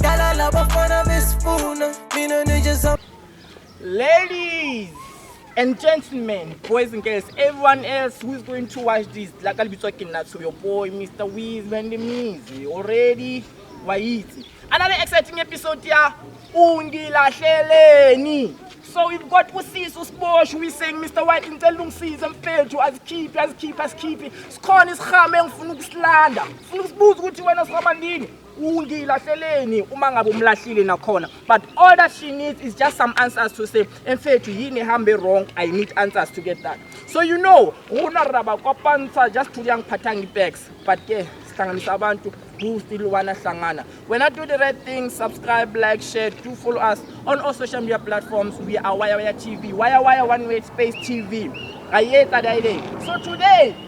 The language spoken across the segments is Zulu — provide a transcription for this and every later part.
Dala labafana besifuna mina nije za Ladies and gentlemen, boys and girls, everyone else who is going to watch this, like I'll be talking now to your boy, Mr. Wiz, when the music already, Waiti. Another exciting episode here, Ungilahleleni. So we've got usisi usiboshwe uyiseng Mr White ngicela ungisize mfethu azikhiphe azikhiphe asikhiphe sikhona isihame engifuna ukusilanda ngifuna ukusibuza ukuthi wena sihamba ndini ungilahleleni uma ngabe umlahlile nakhona but all that she needs is just some answers to say mfethu yini ehambe wrong i need answers to get that so you know rona raba kwapansa just to yangiphatha ngipex but ke sihlanganisa abantu who still wanna hlangana when i do the right thing subscribe like share do follow us on all social media platforms we are waya waya tv waya waya one way space tv ayetsa daile so today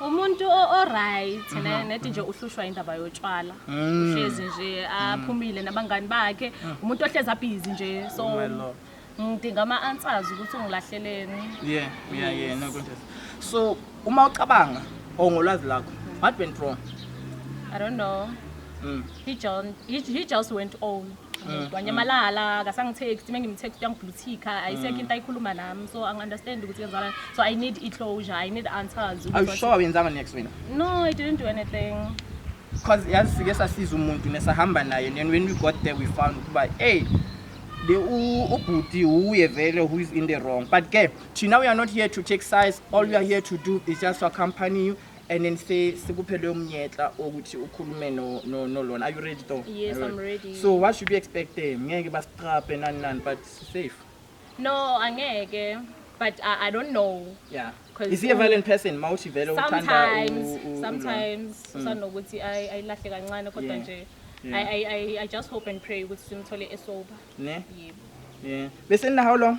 umuntu o- oright ne- nethi nje uhlushwa indaba yotshwala Mm. uhlezi nje aphumile nabangani bakhe umuntu ohlezi abhizi nje so Oh my Lord. ngidinga ama-answers ukuthi ungilahleleni yeah yeah yeah no contest so uma ucabanga or ngolwazi lakho what went wrong i don't know mm. he, John, he, he just went on Mm. wanyamalala akasangitext uma ngimtext uyangibluthika ayisekho mm. into ayikhuluma nami so angi-understand ukuthi yenzana so i need i-closure i need answers are you sure awuyenzanga next wena no i didn't do anything because yazi sike sasiza umuntu nesahamba naye then when we got there we found ukuba hey the ubhuti uye vele who is in the wrong but ke thina we are not here to take size all we are here to do is just to accompany you and then say sikuphe leyo mnyetla ukuthi ukhulume no no no lona are you ready though Yes, Are you I'm ready. so what should we expect them ngeke basitrape nani nani but safe no angeke but I, i don't know yeah 'Cause is he a u- violent person mawuthi vele uthanda sometimes u- u- u- sometimes usanokuthi ay- ayilahle kancane kodwa Yeah. nje Yeah. I, I, I, I just hope and pray ukuthi simthole esober ne yebo yeah bese nina how long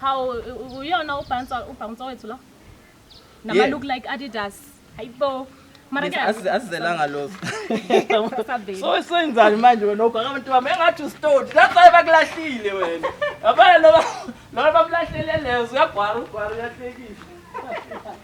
Hawu uyona ubhansa ubhansa wethu lo. Nama Yeah. look like Adidas. Hayibo. Mara ke Asi- asizelanga lozo sasabe. so senzani manje wena ubhaka abantu bami engathi usitoti that's why bakulahlile wena yabona loba loba bamlahlele lezo uyagwara ugwara uyahlekisa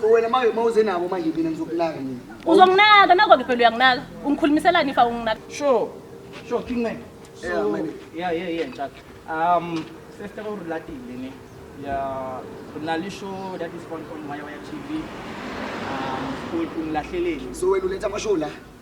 So wena manje uma uze nabo manje mina ngizokunaka mina. Uzonginaka nako ke phela uyanginaka. Ungikhulumiselani if awunginaka? Sure. Sure King Man. Yeah, man. Yeah, yeah, yeah, Ntshat. Um, sister o relatile ne. Yeah, kuna le show that is on on Waya Waya TV. Um, school kung lahleleni. So wena uletha ama show la.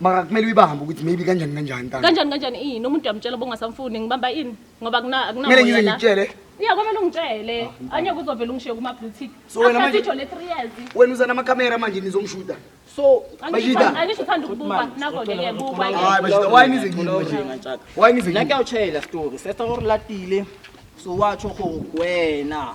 mara kumele uyibambe ukuthi maybe kanjani kanjani ntana kanjani kanjani ini umuntu uyamtshela bongasamfuni ngibamba ini ngoba kuna akuna kumele ngize ngitshele iya kwamele ungitshele ah, anyeke uzovela ungishiye kuma blue tick so wena manje le 3 years wena uza nama camera manje nizomshuta so bajida angisho uthanda ukubuka nako ke ke buka hayi bajida why nize ngini bajida why nize ngini la kuyawutshela story sesa or latile so watsho go wena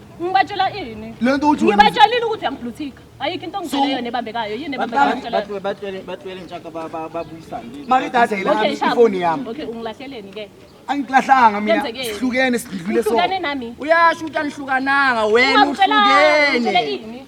Ngibatshela ini? Le nto uthi wena- Ngibatshelile ukuthi uyangibluthika. Ayikho into ongitshele yona ebambekayo. Yini ebambekayo? Ngitshela- batwele ntshaka babuyisane Mara idatha Okay, yilami Shabu. ifoni yami. Okay, ungilahleleni ke. Angiklahlanga mina. Kwenzekeni? Sihlukene sidlule so. Uhlukane nami. uyasho ukuthi anihlukananga wena Ungangitshela- ungitshele uhlukene ini?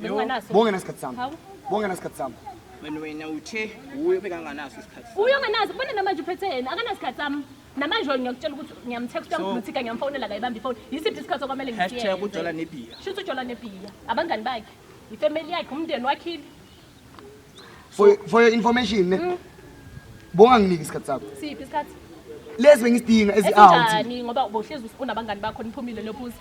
Benginganaso. Bonke nasikhathi sami. Hawu. Bonke nasikhathi sami. Wena wena uthe wuye obekanganaso isikhathi. sakhe. Uyo nganazi ubona namanje uphethe yena akanasikhathi sami. Namanje wena ngiyakutshela ukuthi ngiyamtexta So- ngimthika ngiyamfonela kayibamba ifoni. Yisiphi isikhathi okwamele Hashtag ngikiyenze? ujola nebhiya. Shuthi ujola nebhiya. Abangani bakhe. Ifamily yakhe umndeni wakhile. For for your information ne. Mm. Bonga nginike isikhathi sakho. Siphi isikhathi? Lezi bengisidinga ezi out. Esinjani ngoba ubohlezi unabangani bakho niphumile lophuza.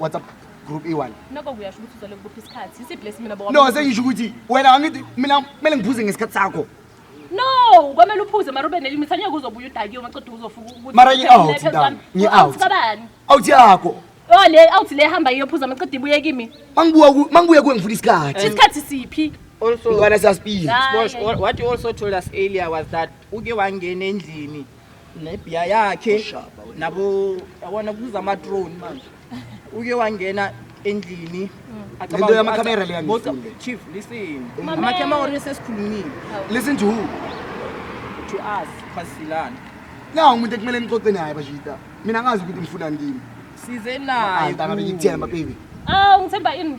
WhatsApp group iwani noko kuyasho ukuthi uzale kubuphi isikhathi isiphi lesi mina bokwa no sengisho ukuthi wena angithi mina kumele ngiphuze ngesikhathi sakho no kwamele uphuze mara ube nelimit angeke uzobuya udakiwe maqeda uzofuka ukuthi Mara ngi-out, Phezu Ndaba. kwami. Ngi-out. Out kabani awuthi yakho oh le out le hamba iyophuza maqeda ibuye kimi mangibuya ku- mangibuya kuwe ngifuna isikhathi isikhathi siphi Also, mntwana siyasipila Hayi. Bosh, what you also told us earlier was that uke wangena endlini nebhiya yakhe nabo yabona kuza ama-drone manje uke wangena endlini Lento yamakhamera le yangifunde. Both- chief listen Mamela. amakhamera sesikhulumile listen to who to us kwasilana na umuntu ekumele nixoxe naye bashita mina ngazi ukuthi ngifunani kimi size naye Anta ngabe ngikuthemba baby Awu ngithemba ini?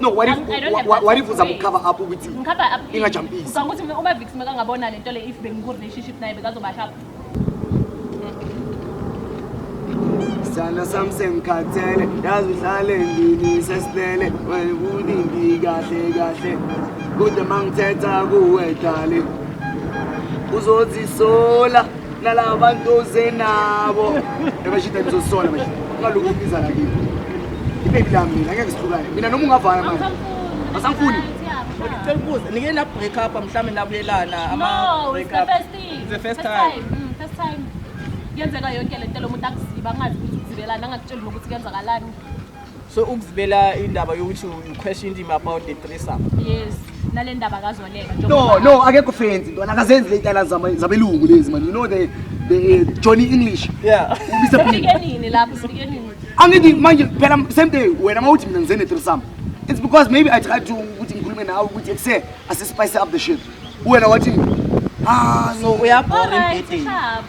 No, what if, I don't have what, what if uza mukhava up ukuthi Ngikhava up. Ingajampisi. Ngicabanga ukuthi mina uma Vix mekangabona lento le if bengiku relationship naye bekazobasha up. sana sam sengikhathele yazi uhlale ndini sesilele wena ukuthi ngikahle kahle kude mangithetha kuwe dali uzozisola nalaba bantu oze nabo ebashida nizosola manje ungalokhu ubiza nakini ibebi lami mina ngeke sihlukane mina noma ungavana manje asamfuni ngicela ukubuza nike na break up mhlawumbe nabuyelana ama No, break it's the up first thing. It's the first time. Mm, first time. Kuyenzeka yonke le nto lo muntu akuziba angazi ukuthi uzibelani angakutsheli nokuthi kuyenzakalani. so ukuzibela indaba yokuthi you question him about the threesome yes nale ndaba kazoleka no no akekho fancy ntwana akazenzi le tala zabelungu lezi man you know the the uh, Johnny English yeah ubisefike nini lapho sifike nini angithi manje phela same day wena mawuthi mina ngizene threesome it's because maybe i tried to ukuthi ngikhulume nawe ukuthi ekuse asispice up the shit wena wathi ah so uyabhora imbhedeni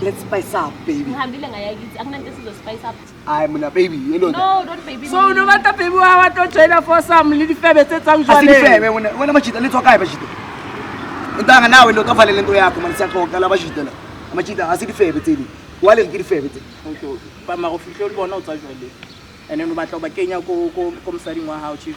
Let's spice up baby. Ngihambile ngaya kithi akunanto esizo spice up. Hayi mina baby yelona. No don't baby. So no matter baby wa wa to join for some little febe tse tsang jwale. Asifebe wena wena majita letwa kae bajita. Ntanga nawe lo tofale lento yakho manje siyaxoxa la bajita la. Majita asifebe tsini. Wale ngiri febe tsini. Okay. Ba ma go fihle o bona o tsa jwale. Ene no batla ba kenya ko ko mosadi ngwa hao chief.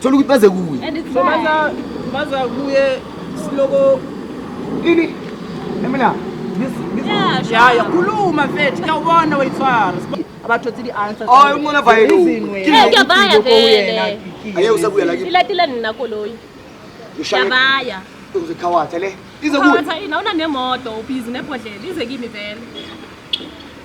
thola ukuthi baze kuye and it's so baza baza kuye siloko ini emina yaya khuluma mfethu kuyawubona wayithwara abathothe i-answer oh umona vaya kuyabaya vele aye usabuya la ilatile nina koloyi yabaya uzokhawatha le izokuwatha ina una nemoto ubhizi nebhodlela ize kimi vele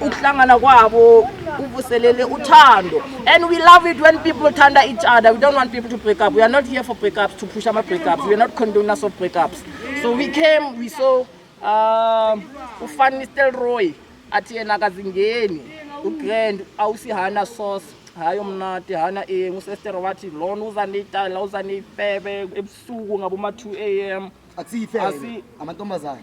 ukuhlangana kwabo kuvuselele uthando and we love it when people thanda each other we don't want people to break up we are not here for break ups to push ama break ups we are not condoners of break ups so we came we saw um ufan nistelroy athi yena akazingeni ugrand awusihana sauce hayi omnati hana e ngusester wathi lona uza neyitala uza neyifebe ebusuku ngaboma-2 a m asiyife amantombazane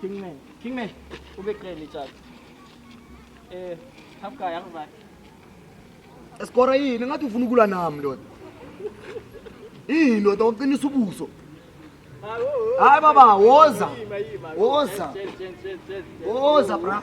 Kingman. Kingman. Ube kreli tjalo. Eh, half guy yakuzakhe. Esikora yini ngathi ufuna ukulwa nami ndoda. Yini ndoda uqinisa ubuso. Hayi baba woza. Woza. Woza bra.